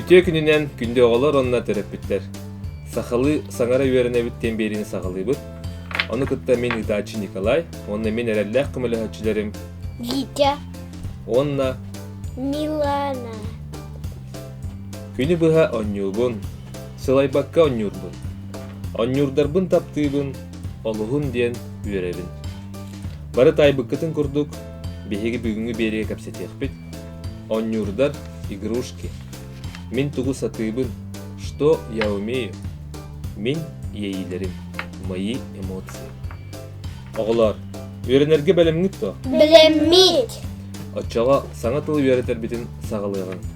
Үтүө күнүнэн күндү оҕолор уонна төрөппүттэр. Сахалыы саҥара үөрэнэбит диэн биэриини саҕалыыбыт. Ону кытта мин ыытааччы Николай уонна мин эрэллээх көмөлөһөөччүлэрим Витя уонна Милана. Күнү быһа онньуубун, сылайбакка онньуурбун, онньуурдарбын таптыыбын, олуһун диэн үөрэбин. Бары таайбыккытын курдук, биһиги бүгүҥҥү биэриигэ кэпсэтиэхпит. Онньуурдар игрушки. Мин тугу сатыыбын, что я умею, мин иэйиилэрим, мои эмоции. Оҕолоор, үөрэнэргэ бэлэмҥит дуо? Билэммит. Оччоҕо саҥа тылы үөрэтэрбитин саҕалыаҕыҥ.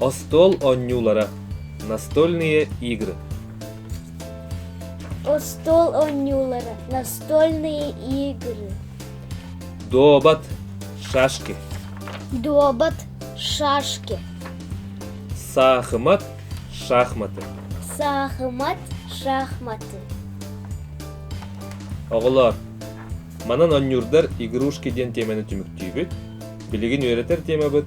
остуол оонньуулара настольные игры остуол оонньуулара настольные игры дуобат шашки дуобат шашки саахымат шахматы саахымат шахматы оҕолоор манан оонньуурдар игрушки диэн тиэмэни түмүктүүбүт билигин үөрэтэр тиэмэбит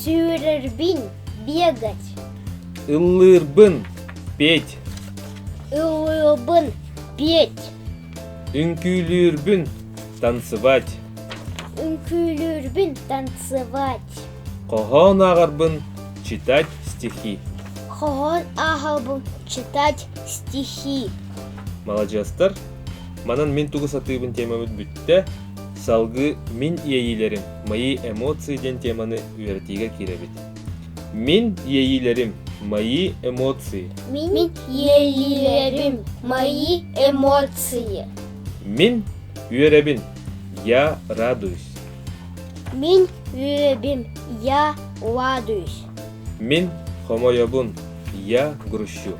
Сүүрэрбин бегать. Ыллыырбын петь. Ыллыырбын петь. Үҥкүүлүүрбүн танцевать. Үҥкүүлүүрбүн танцевать. Хоһоон ааҕарбын читать стихи. Хоһоон ааҕарбын читать стихи. Маладьыастар, манан мин тугу сатыыбын тиэмэбит бүттэ. Салгыы Мин иэйиилэрим, мои эмоции диэн теманы үөрэтиигэ киирэбит. Мин иэйиилэрим, мои эмоции. Мин иэйиилэрим, мои эмоции. Мин үөрэбин, я радуюсь. Мин үөрэбим, я радуюсь. Мин хомойобун, я грущу.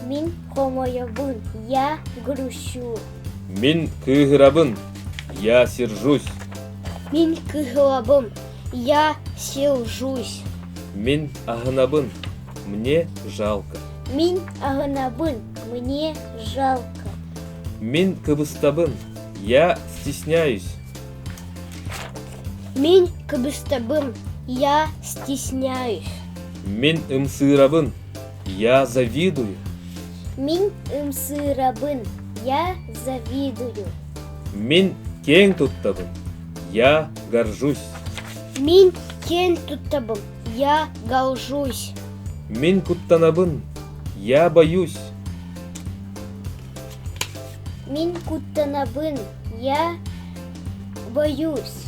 Мин хомойобун, я грущу. Мин кыыһырабын, я сержусь. Мин кыһылабым, я сержусь. Мин аһынабын, мне жалко. Мин аһынабын, мне жалко. Мин кыбыстабын, я стесняюсь. Мин кыбыстабын, я стесняюсь. Мин ымсыырабын, Я завидую. Мин ымсыырабын. Я завидую. Мин кең туттабын. Я горжусь. Мин кең туттабын. Я горжусь. Мин куттанабын. Я боюсь. Мин куттанабын. Я боюсь.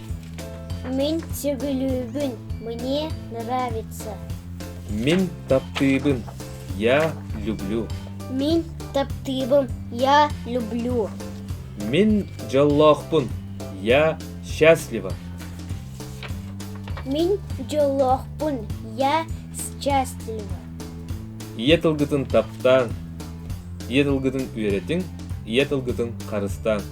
Мин сөбүлүүбүн мне нравится. Мин таптыыбын. Я люблю. Мин таптыыбым. Я люблю. Мин дьоллоохпун. Я счастлива. Мин дьоллоохпун. Я счастлива. Ийэ тылгытын таптааҥ. Ийэ тылгытын үөрэтиҥ. Ийэ тылгытын харыстааҥ.